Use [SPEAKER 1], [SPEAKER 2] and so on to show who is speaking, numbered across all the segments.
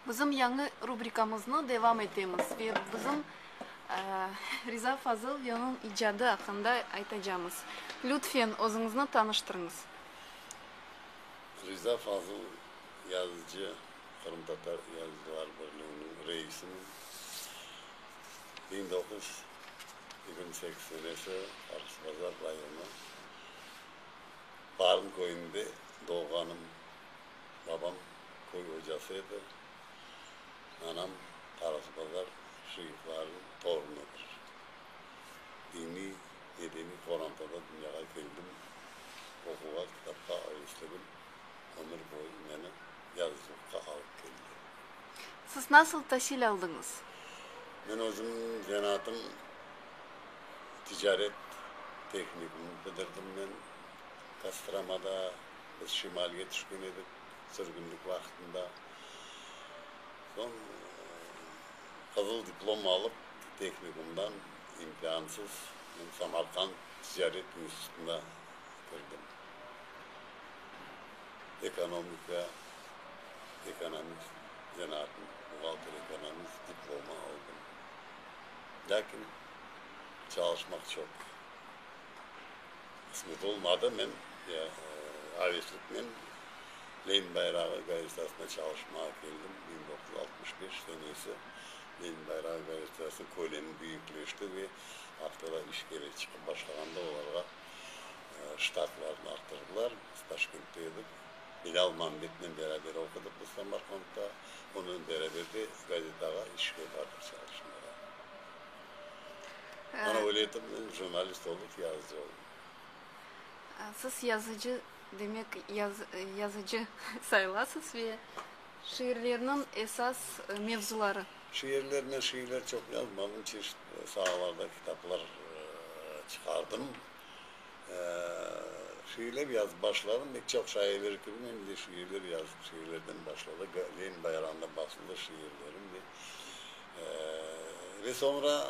[SPEAKER 1] Bizim yañı rubrikamıznı devam etemiz ve bizim Riza Fazıl ve onıñ icadı aqqında aytacamız. Lütfen, özüñizni tanıştırıñız.
[SPEAKER 2] Riza Fazıl, yazıcı, Qırımtatar Yazıcılar Birliğiniñ reisinim. Biñ doquz yigirmi sekiz senesi Arxisbazar rayonı Barın köyünde doğğanım. Babam köy ocası edi. Anam Qarasıbazar şıyıqlarınıñ torunıdır. Diniy, medeniy qorantada dünyağa keldim. Oquğa, kitapqa ögüsligim ömür boyu meni yazıcılıqqa alıp keldi. Siz
[SPEAKER 1] nasıl tasil aldıñız? Men
[SPEAKER 2] özüm zenaatım ticaret tehnikumını bitirdim. Men Kostramada Biz şimalge tüşken edik sürgünlik vaqtında. Soñ qızıl diplom alıp, tehnikumdan imtiansız men Samarqand ticaret institutına kirdim. Ekonomika, ekonomist, zenaatın buğalter-ekonomist diplomı aldım. Lâkin çalışmaq çoq. qısmet olmadı, men avisliknen Lenin bayrağı gazetasına çalışmağa keldim, biñ doquz yüz altmış beş senesi Lenin bayrağı gazetasınıñ kölemi büyükleşti ve aftalar iş kerek çıqıp başlağanda olarğa ştatlarnı arttırdılar, biz Taşkentte edik, Bilâl Mambetnen beraber oqudıq biz Samarqandda, onınen beraber de gazetağa işke bardıq çalışmağa. Muraveletımnen jurnalist olup yazıcı oldım.
[SPEAKER 1] Siz yazıcı, demek, yazıcı sayılasız ve şiirlerniñ esas mevzuları? Şiirler, men
[SPEAKER 2] şiirler çoq yazmadım, çeşit saalarda kitaplar çıqardım. Şiirler yazıp başladım, pek çoq şairler kibi men de şiirler yazdım, şiirlerden başladı, Lenin bayrağında basıldı şiirlerim. Ve soñra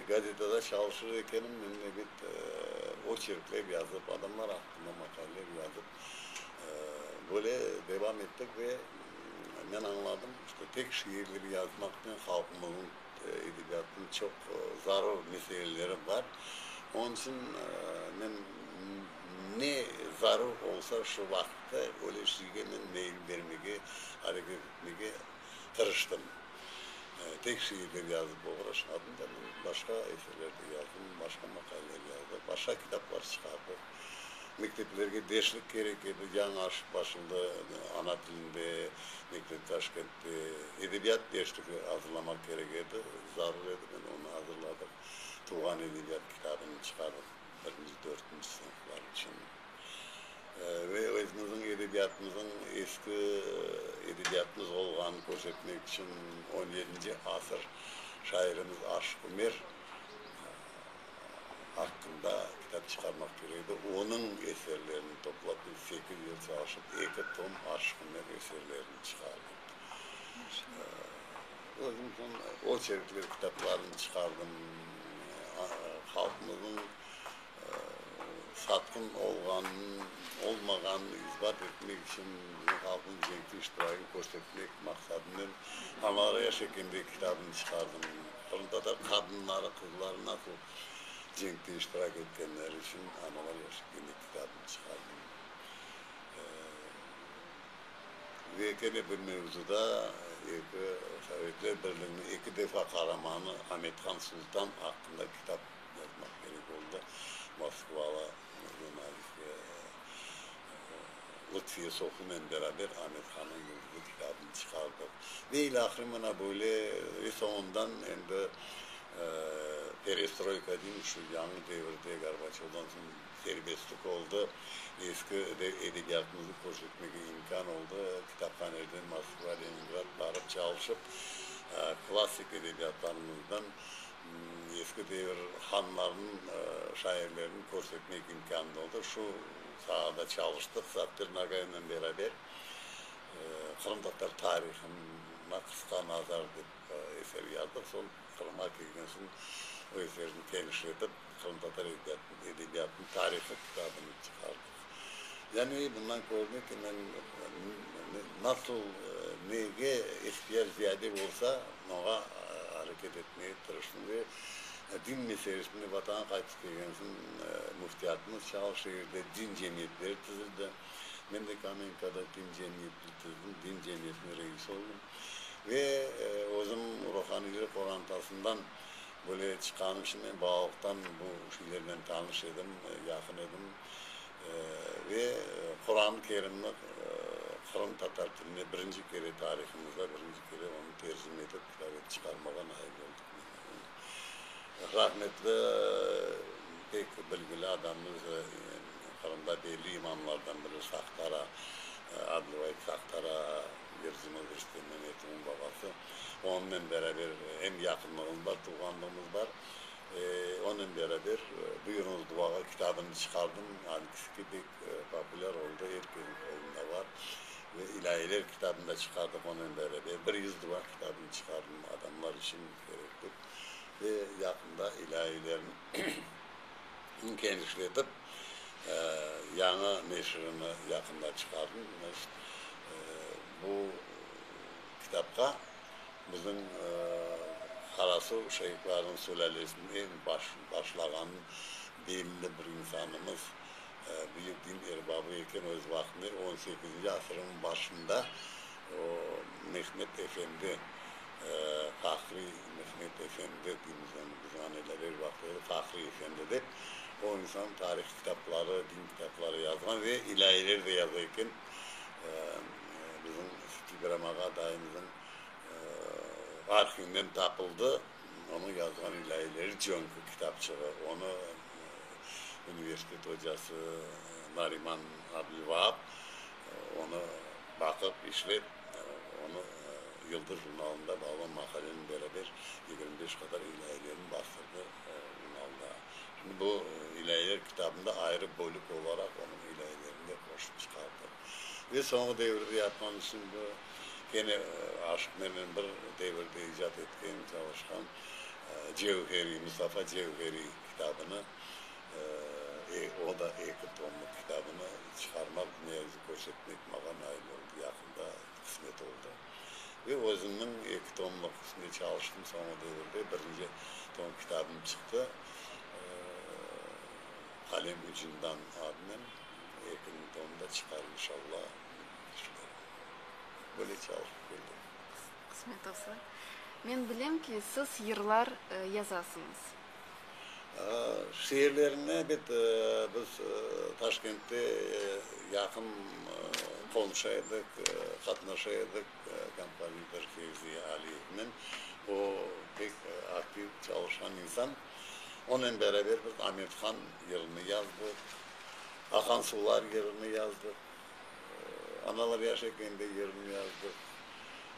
[SPEAKER 2] gazetada çalışır ekenim, men ne bet oçerkler yazıp, adamlar aqqında maqaler yazıp, böyle devam ettik ve men añladım, işte, tek şiirler yazmaqnen halqımızın edebiyatına çoq zarur meseleleri bar. Onıñ içün men ne zarur olsa, şu vaqıtta öyle şeyge men meyil bermege, areket etmege tırıştım. Tek şiirler yazıp oğraşmadım da men. Başqa eserler de yazdım, başqa maqaleler yazdım, başqa kitaplar çıqardık. Mekteplerge deşlik kerek edi, yañı aşıp başımda ana tilinde mektep Taşkentte edebiyat deşligi azırlamaq kerek edi, zarur edi, men onı azırladım. Tuvğan edebiyat kitabını çıqardık birinci, dörtünci sınıflar içün. ve özümüzniñ edebiyatımızıñ eski edebiyatımız olğanını körsetmek içün on yedinci asır şairimiz Aşıq Ümer aqqında kitap çıqarmaq kerek edi. Onıñ eserlerini toplap biz sekiz yıl çalışıp eki tom Aşıq Ümer eserlerini çıqardık. Özüm soñ oçerkler kitaplarını çıqardım. Halqımıznıñ satqın olğanını-olmağanını isbat etmek içün halqnıñ cenkte iştirakini körsetmek maqsadınen Anaraya şekilinde kitabını çıqardım. Qırımtatar qadınları, qızları nasıl cenkte iştirak etkenleri içün Anaraya şekilinde kitabını çıqardım. Ve kene bir mevzuda eki Sovetler Birliginiñ eki defa qaramanı Amethan Sultan aqqında kitap. yazmaq kerek oldı, moskvalı jurnalist ve Lutfiye Sofunen beraber Amet Hanıñ Yıldızı kitabını çıqardıq. Ve ilâhre mına böyle, ve soñundan endi perestroyka deymiz, şu yañı devirde Gorbaçovdan soñ serbestlik oldı, eski edebiyatımıznı körsetmege imkân oldı, kitaphanelerden Moskva, Leningrad barıp çalışıp, klassik edebiyatlarımızdan Eski devir hanlarınıñ şairlerini körsetmek imkânı da oldı. Şu saada çalıştıq Saptir Nagaynen beraber. Qırımtatar tarihına qısqa nazar dep eser yazdıq. Soñ Qırımğa kelgen soñ o eserni tenişletip, Qırımtatar edebiyatınıñ tarihı kitabını çıqardık. Yani bundan körünüv ki, men nasıl, nege ihtiyac ziyade bolsa, oña areket etmege tırıştım ve din meselesinde Vatana qaytıp kelgen soñ Müftiyatımız Çağıl şeerde din cemiyetleri tizildi. Men de Kamenkada din cemiyetini tizdim, din cemiyetiniñ reisi oldım ve özüm ruhaniyler qorantasından Böyle çıqanı için men balalıqtan bu şeylernen tanış edim, yaqın edim. Ve Quran-ı Kerimni Qırım tatar tiline birinci kere tarihımızda, birinci kere onı tercime etip kitap çıqarmağa nail oldıq. Rahmetli pek bilgili adamımız, Qırımda belli imamlardan biri Sahtara, Adlıbayt Sahtara. Berzime kirişti, men yetimin babası. Onnen beraber em yaqınlığımız bar, tuvğanlığımız bar. Onnen beraber Buyurıñız duvağa kitabını çıqardım. Ancısı ki, pek populâr oldı, er kesniñ qolunda bar. Ve İlâhiler kitabını da çıqardıq onnen beraber. Bir yüz duva kitabını çıqardım, adamlar içün kerek dep. Ve yaqında İlâhilerniñ Ün kenişletip, yañı neşirini yaqında çıqardımız. Bu kitapqa bizim Qarasuv şeyhlarnıñ sülâlesinen başlağan belli bir insanımız, büyük din erbabı eken, öz vaqtında, on sekizinci asırnıñ başında O, Mehmet efendi, Fahriy Mehmet efendi deymiz onı biz aneler er vaqıt öyle, Fahriy efendi dep, o insan tarih kitapları, din kitapları yazğan ve ilâyeler de yaza eken. Bizim Stigramağa dayımızın arhivinden tapıldı onıñ yazğan ilâyeleri Cönkü kitapçığı. Onı universitet ocası Nariman Abdülvaap onı, Baqıp, işlep, onı Yıldız jurnalında bağlan maqalenen beraber yigirmi beş qadar ilâyelerini bastırdı jurnalda. Şimdi bu ilâyeler kitabında ayrı bölük olaraq onıñ ilâyelerini de qoşıp çıqardı. Ve soñki devirde yatman içün bu kene aşıq menen bir devirde icat etken, çalışqan Cevheriy, Mustafa Cevheriy kitabını O da eki tomlıq kitabını çıqarmaq, ne yazık, köşetmek mağa nail oldı, yaqında qısmet oldı. Ve özümniñ eki tomlıq üstünde çalıştım, soñu devirde birinci tom kitabım çıqtı, Qalem ucundan adnen. Ekinci tomı da çıqar, inşalla, dep tüşünem. Böyle çalışıp keldik. Qısmet olsa.
[SPEAKER 1] Men bilem ki, siz yırlar yazasıñız.
[SPEAKER 2] Şiirlerine bet biz Taşkentte yaqın qomşu edik, qatnaşa edik kompozitor Fevzi Aliyevnen. O, pek aktiv çalışqan insan. Onen beraber biz Amethan yırını yazdıq, Aqan suvlar yırını yazdıq. Analar yaşayken de yerini yazdıq.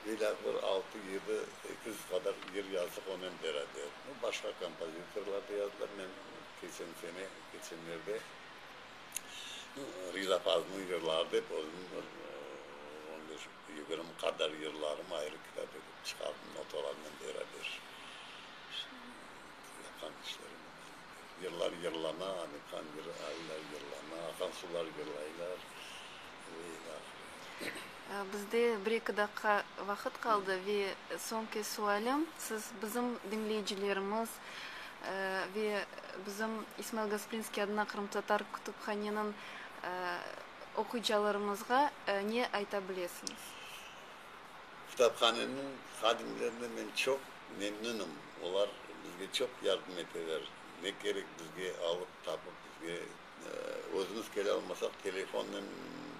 [SPEAKER 2] İlâq bir altı-yedi ekiz qadar yer yazdıq onen beraber. Bu başqa kompozitorlar da yazdılar. Men keçen sene, keçenlerde Riza Fazlınıñ yırları dep özümniñ bir on beş, yigirmi qadar yırlarımı ayrı kitap etip çıqardım, notalarınen beraber. Yapqan işlerim. Yırlar yırlana, anı qan yıraylar, yırlana, aqan sular yırlaylar, ve ila ahire.
[SPEAKER 1] Bizde bir-eki daqqa vaqıt qaldı ve soñki sualim, siz bizim diñleyicilerimiz ve bizim İsmail Gasprinskiy adına qırımtatar kütüphaneniñ oquyıcılarımızğa ne ayta bilesiñiz?
[SPEAKER 2] Kitaphaneniñ hadimlerine men çoq Memnünım, olar bizge çoq yardım eteler, ne kerek bizge alıp, tapıp, bizge, özümiz kele almasaq, telefonnen,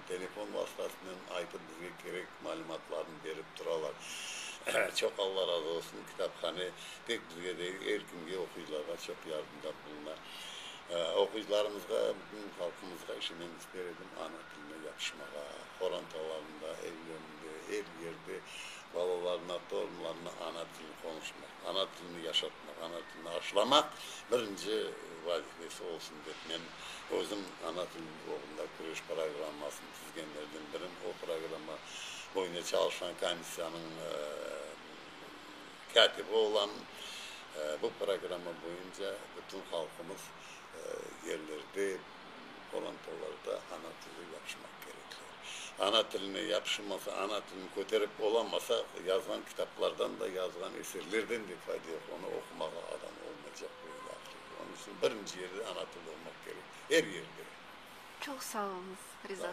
[SPEAKER 2] telefon vastasınen aytıp, bizge kerek malümatlarnı berip turalar. Çoq Alla razı olsun, kitaphane tek bizge degil, er kimge, oquyıcılarğa çoq yardımda buluna. Oquyıcılarımızğa, bütün halqımızğa işenemiz, der edim, ana. Bunı yapışmağa, qorantalarında, evlerinde, er yerde balalarına, torunlarına ana tilini qonuşmaq, ana tilini yaşatmaq, ana tilini aşlamaq birinci vazifesi olsun dep, men özüm ana til oğrunda küreş programmasını tizgenlerden birim. O programma boyunca çalışqan komissiyanıñ kâtibi olamın. Bu programma boyunca bütün halqımız yerlerde, olam tollarda ana tili yapışmaq kerekler. Ana tiline yapışılmasa, ana tilini köterip olamasa, yazğan kitaplardan da, yazğan eserlerden de fayda yoq, onı oqumağa adam olmaycaq ve ilâ ahire. Onıñ içün birinci yerde ana tili olmaq
[SPEAKER 1] kerek,
[SPEAKER 2] er yerde. Çoq
[SPEAKER 1] sağ
[SPEAKER 2] oluñız, Riza.